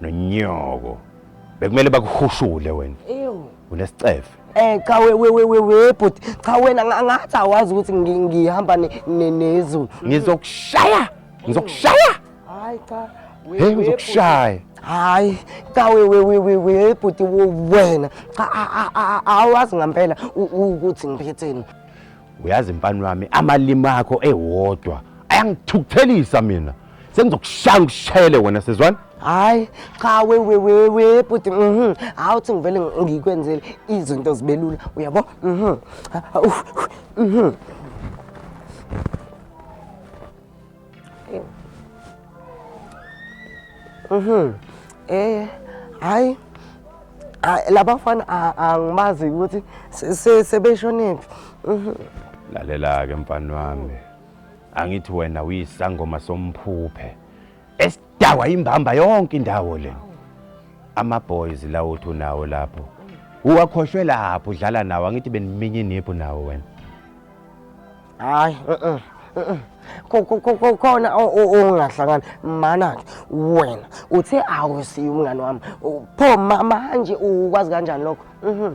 nonyoko bekumele bakuhushule wena ewu unesicefe Eh cha we we we we we bhuti cha wena nga- ngathi awazi ukuthi ngi- ngihamba ne- ne- nezulu. ngizokushaya ngizokushaya Hayi cha. we- hey we ngizokushaya Hayi cha we we we we we bhuti wo- wena cha a- a- a- a- awazi ngempela u- u- ukuthi ngiphetheni. uyazi mfana wami amalimi akho ewodwa ayangithukuthelisa mina sengizokushaya ngishele wena sezwana hayi cha wewewewe bhuti mhm hawu uthi ngivele ngikwenzele izinto zibe lula uyabo mhm mhm mhm eh hayi ah, labafana ah, angibazi ukuthi sebeshonephi mhm. lalela-ke mfana wami angithi wena uyisangoma somphuphe esidakwa imbamba yonke indawo le ama-boys lawo uthi unawo lapho uwakhoshwe lapho udlala nawo angithi beniminye iniphu nawo wena hayi khona ongahlangani mana-ke wena uthe awusiye umngane wami pho manje ukwazi kanjani lokho mhm.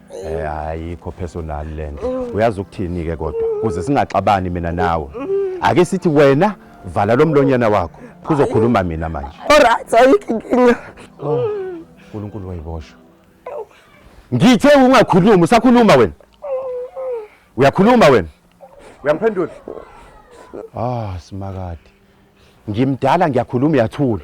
Eh ayikho personal lento. Uyazi ukuthini ke kodwa? Kuze singaxabani mina nawe. Ake sithi wena vala lo mlonyana wakho. Kuzokhuluma mina manje. Alright, ayikho inkinga. Oh, uNkulunkulu wayiboshwa. Ngithe ungakhulumi, usakhuluma wena. Uyakhuluma wena. Uyangiphendula? Ah, simakade. Ngimdala ngiyakhuluma uyathula.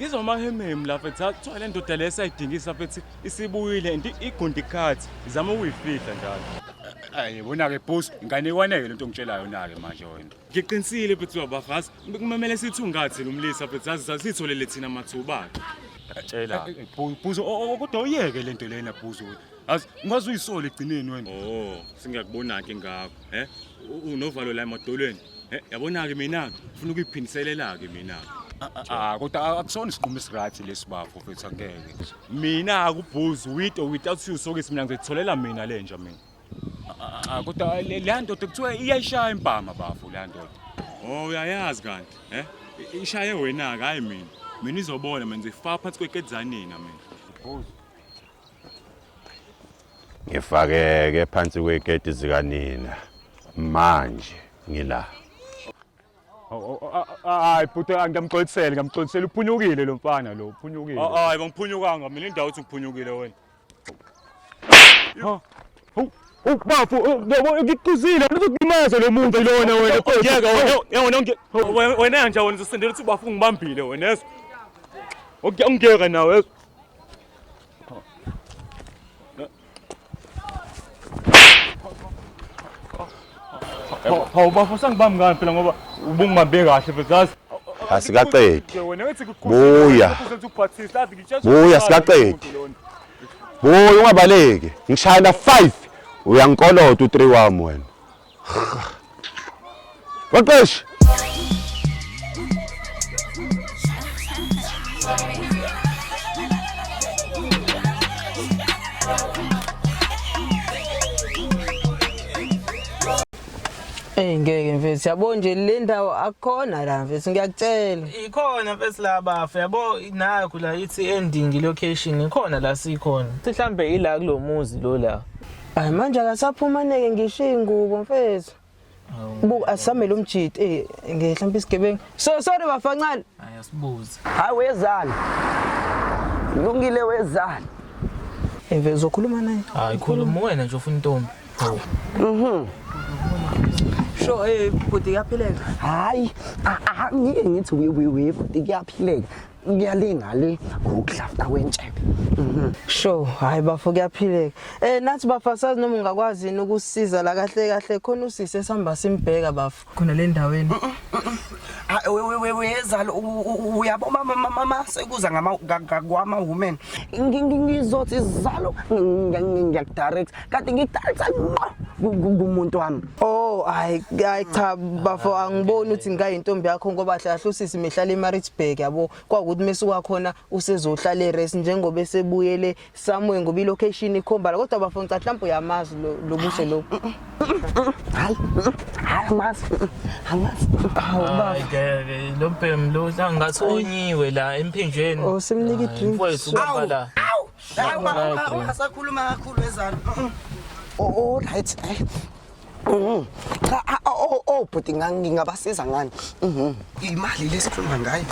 ngizwa amahemhemu lapha ethi kuthiwa le ndoda le esayidingisa lapha ethi isibuyile and igundi khathi izama ukuyifihla njalo ayi bona-ke bus ngane ikwaneke le nto ngitshela yona-ke manje wena ngiqinisile bethi uyabafazi kumamele sithi ungathi nomlisa bethi zazi sasitholele thina mathuba-ke tshela eh, eh, bhuzo kodwa uyeke le nto lena bhuzo azi ungaze uyisole egcineni wena o oh, sengiyakubona-ke ngakho eh unovalo la emadolweni eh yabona ke mina ngifuna ukuyiphindiselela ke mina Ah kodwa akusona isinqumo esiright lesi bafo mfethu angeke. Mina akubhuzi with or without you sokisi mina ngizitholela mina lenja mina. Ah kodwa le ndoda kuthiwa iyayishaya impama bafo le ndoda. Oh uyayazi kanti eh ishaye wena ke hayi mina. Mina izobona mina ngizifaka phansi kwekedzanina mina. Bhuzi. ngifakeke phansi kwegedi zikanina manje ngila hayi bhuti ngiyamxolisela ngiyamxolisela uphunyukile lo mfana lo uphunyukile hayi bangiphunyukanga mina indawo uthi ngiphunyukile wena ubafu ngikuqizile uzokulimaza lo muntu lona wena kodwa wena nje wena usindela ukuthi ubafu ngibambile wena yeso ungiyeka nawe yeso Awubafo sangibambi ngani phela ngoba ubungibambe kahle phela zazi. Asikaqedi. Buya. Buya sikaqedi. Buya ungabaleki. Ngishayela 5 uyangikolota u3 wami wena. Baqeshi. Hey ngeke mfethu yabo nje le ndawo akukhona la mfethu ngiyakutshela. Ikhona mfethu la bafu yabo nakho la ithi ending location ikhona la sikhona. Mhlambe ila kulomuzi lo la. Hayi manje akasaphumaneke ngisho ingubo mfethu. Buku asamele umjidi eh ngehlampa isigebengu. So sorry bafancane. Hayi asibuze. Hayi wezani. Lungile wezani. Eve eh, uzokhuluma naye. Hayi khuluma wena nje ufuna intombi. Mhm. Sho eh bhuti yaphileka. Hayi, ah, ah, ngeke ngithi we we we bhuti yaphileka. kuyalinga le ngokudlafta kwentshebe mhm. sho hayi bafo kuyaphileka eh nathi bafasazi noma ungakwazi yini ukusiza la kahle kahle khona usise sihamba simbheka bafo khona le ndaweni mm, mm, mm, ah, wezalo uyabo mama sekuza ngama women ngizothi zalo ngiyakudirect kade ngidalisa ngqo ku- ku- kumuntu wami Oh hayi hayi cha bafo angiboni ukuthi ngikayintombi yakho ngoba hlahle usisi mehlala eMaritzburg yabo kwakuthi mesuka khona usezohlala eRes njengoba esebuyele somewhere ngoba ilocation ikhomba la kodwa bafo ngicela mhlawumbe uyamazi lo- lo buso lo hayi hayi amazi amazi Hayi ngeke lo mbhemu lo uhlanga ngathi onyiwe la emphinjeni. Oh, simnike i-drink. Mfowethu ubamba la. Hayi uma Hayi, uma- bro. uma sakhuluma kakhulu ezana. Oh, oh, right. eh. Mhm. Cha, ah, oh, oh, oh, bhuti nga- ngingabasiza ngani? Mhm. Imali lesikhuluma ngayo.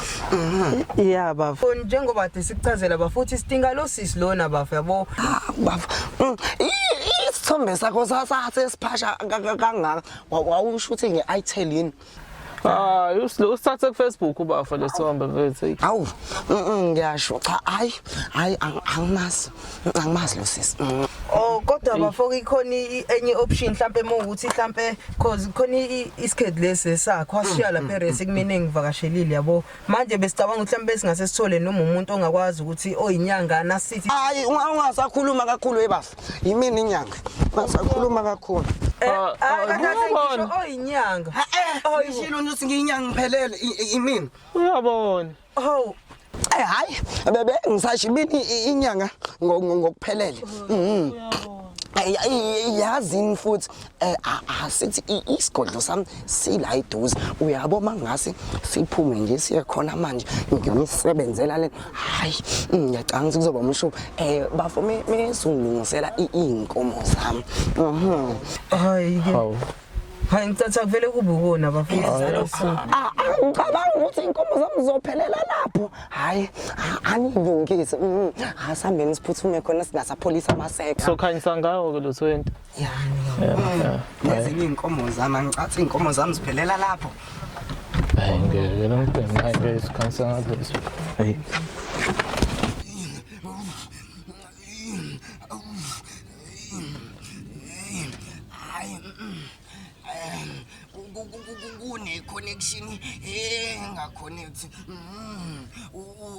Yeah, bafo. So, Njengoba de sikuchazela bafuthi sidinga lo sisi lona bafo yabo. Ah, bafo. Mm, i- i- Isithombe sakho sasase siphasha ka- ka- kangaka. Wa- Wawusho ukuthi nge-itel yini? hayi us- usithathe kufacebook ubafo lesihambe mfethu eyi. awu mm, mm, ngiyasho cha hayi hayi ang- angimazi Mm, angimazi lo sisi Mm. Oh kodwa bafoko ikhona i- enye option mhlambe uma ukuthi mhlambe cause khona i- isikhethi lesi sakho washiya lapha eresi kumina engivakashelile yabo manje besicabanga ukuthi mhlambe singase sithole noma umuntu ongakwazi ukuthi oyinyangana sithi hayi unga- ungasakhuluma kakhulu ebafo yimini inyanga basakhuluma kakhulu Eh, Ah, ah, ah, kade ake uyabona. ngisho oyinyanga Eh, ngishilo nje ukuthi ngiyinyanga ngiphelele i- i- imini uyabona hawu Eh, hayi bebe ngisasho imini i- inyanga ngo- ngo- ngokuphelele Mhm. Ay- ay- yazini futhi Eh, ah, ah, sithi isigodlo sami sila iduze uyabo mangase siphume nje siye khona manje ngiyonisebenzela le hayi ngiyacanga ukuthi kuzoba umshubo eh bafo mesungilungisela iinkomo zami mhm hayi ke hayi ngicatha kuvele kube ukona bafundisi ah, ngicabanga ukuthi inkomo zami zophelela lapho hayi anilungise mhm. asihambeni siphuthume khona singasapholisa amaseko sokhanyisa ngawo ke lo 20 nezinye iy'nkomo zami angicathi iy'nkomo zami ziphelela lapho Hayi ngeke lo mfana hayi ngeke sikhansa ngathi hayi kuneconnection engaconnect mm,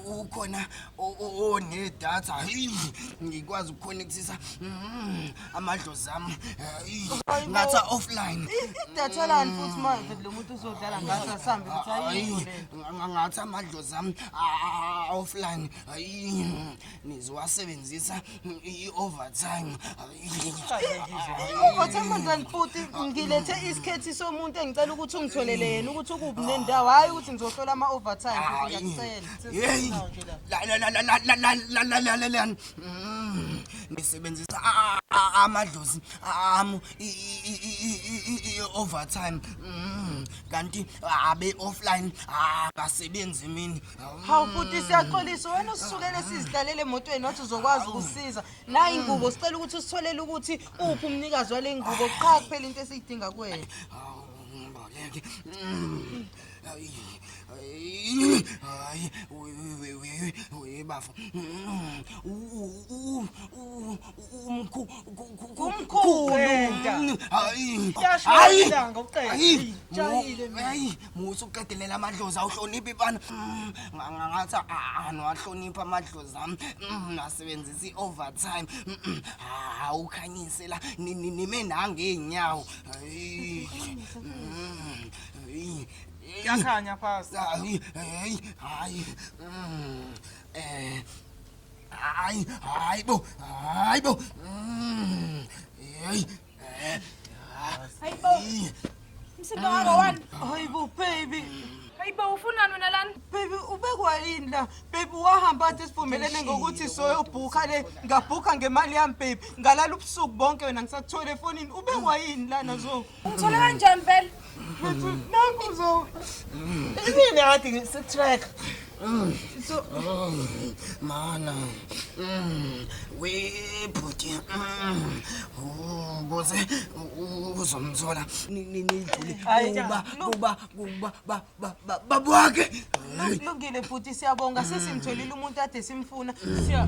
ukhona onedatha ngikwazi ukuconnectisa mm, amadlozi ami ngatha offline idatha lani mm. futhi manje lo muntu uzodlala ngathi asambe ngathi amadlozi ami offline nizowasebenzisa i-overtime i-overtime mntwana futhi ngilethe isikhethi somuntu engicela ukuthi ungitholele yena ukuthi ukuphi nendawo hhayi ukuthi ngizohlola ama-overtime ngiyakucela ngisebenzisa amadlozi ami i-overtime kanti abe-offline abasebenzi mini hawu futhi siyaxolisa wena usukele sizihlalele emotweni wathi uzokwazi ukusiza nayi ingubo sicela ukuthi usitholele ukuthi uphi umnikazi wale ngubo qha kuphela into esiyidinga kuwena ngeke hayi hayi bafo umkhu umkhulu hayi hayi hayi musa ukuqedelela amadlozi awuhloniphi bana mm, ngathi angiwahloniphi amadlozi ami mm, nasebenzisa i-overtime mm, awukhanyise la nime nangey'nyawo yakhanya phasi hayi hayi hayi um hayi hayi bo hayi bo um Hayi bo. Msindo wako wani? Hayi bo baby. Hayi bo ufunani wena lana? Baby ubekwa yini la? Baby wahamba athi sivumelene ngokuthi soyobhukha le ngabhukha ngemali yami baby. Ngalala ubusuku bonke wena ngisakuthole efonini. Ubekwa yini lana zo? Ungithole kanjani vele? Nakho so. Yini ngathi ngisetrack. So mana. We bhuti. Ubuze uzomthola nidlule kuba kuba kuba ba ba ba babwakhe. Lungile bhuti siyabonga sesimtholile umuntu ade simfuna. Siya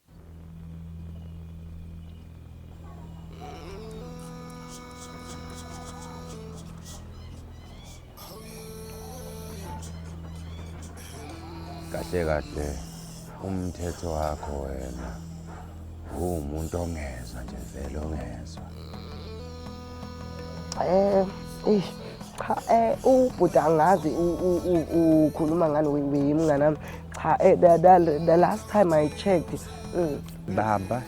kahle kahle umthetho wakho wena uwumuntu ongezwa nje vele ongezwa Eh, eh cha eh ubhuti angazi ukhuluma ngani weyimngane wami cha eh the, the, the last time i checked mm. baba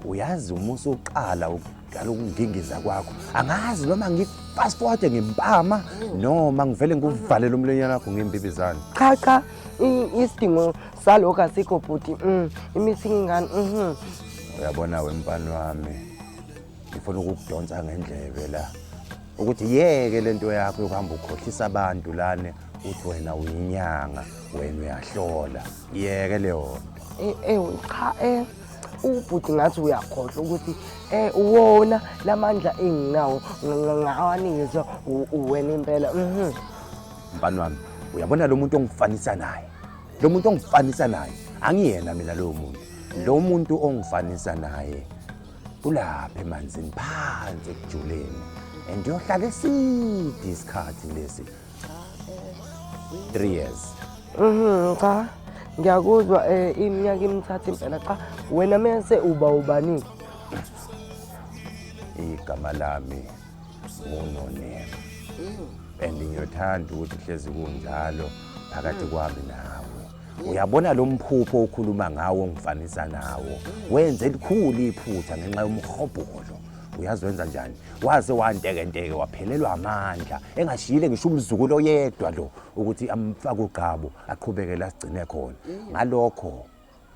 uyazi uma usuqala ukudala ukungingiza kwakho angazi noma ngifast forward ngempama noma ngivele ngikuvalele umlonyana wakho ngembibizane cha cha isidingo salokho asikho bhuti mm, imithi ingani mhm. uyabona wempani wami ngifuna ukukudonsa ngendlebe la ukuthi yeke le nto yakho yokuhamba ukhohlisa abantu lane uthi wena uyinyanga wena uyahlola yeke leyo nto ewu eh, eh, cha um ubhuti ngathi uyakhohlwa ukuthi um uwona la mandla enginawo ngawanikezwa uwena impela mhm. mfani wami uyabona lo muntu ongifanisa naye lo muntu ongifanisa naye angiyena mina lowo muntu lo muntu ongifanisa naye ulapha emanzini phansi ekujuleni and uyohlala eside isikhathi lesi three years Mhm, cha ngiyakuzwa eh, iminyaka imithathu impela cha wena mese uba ubani igama lami ngunonema and ngiyothanda ukuthi hlezi kunjalo phakathi kwami nawe uyabona lo mphupho okhuluma ngawo ngifanisa nawo wenze elikhulu iphutha ngenxa yomhobholo uyazi wenza njani waze wantekenteke waphelelwa amandla engashiyile ngisho umzukulu oyedwa lo ukuthi amfake ugqabo aqhubeke la sigcine khona ngalokho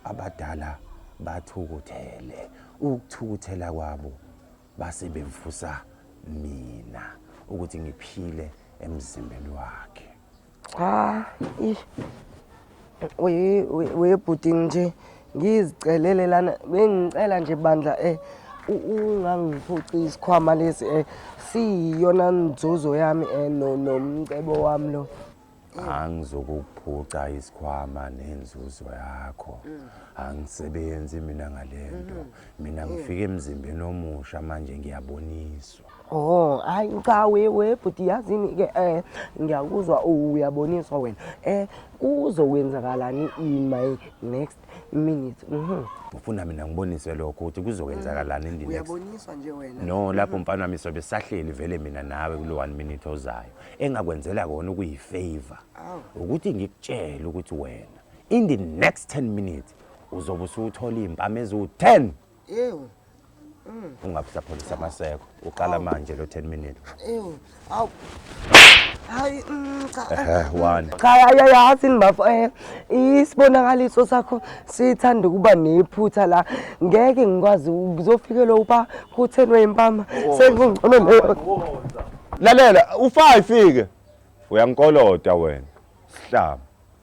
abadala bathukuthele ukuthukuthela kwabo base bevusa mina ukuthi ngiphile emzimbeni wakhe cha ish we we we bhuti nje ngizicelele lana bengicela nje bandla eh u- ungangiphuci isikhwama lesi eh siyiyona nzuzo yami eh no nomcebo wami lo angizokuphuca isikhwama nenzuzo yakho angisebenzi mina ngalento mina ngifike emzimbeni omusha manje ngiyaboniswa Oh, hayi cha we we bhuti yazini ke eh ngiyakuzwa uyaboniswa wena. Eh kuzokwenzakalani in my next minute. Mhm. Ufuna mina ngiboniswe lokho ukuthi kuzokwenzakalani in the next. Uyaboniswa nje wena. No, lapho mfana wami sobe sahleli vele mina nawe kulo 1 minute ozayo. Engakwenzela kona ukuyi favor. Ukuthi ngikutshele ukuthi wena in the next 10 minutes uzobe usuthola impama eziwu 10 Ewu. Mm. Ungabusapholisa amaseko. Uqala manje lo 10 minutes. Ewu. Awu. Hayi mm, cha. Eh, one. Cha ayayazi nibafo eh isibonakaliso sakho sithanda ukuba nephutha la. Ngeke ngikwazi ukuzofikela uba kuthenwe impama. Oh. Sekungcono leyo. Lalela, ufa ifike. Uyangikolota wena. Sihlaba.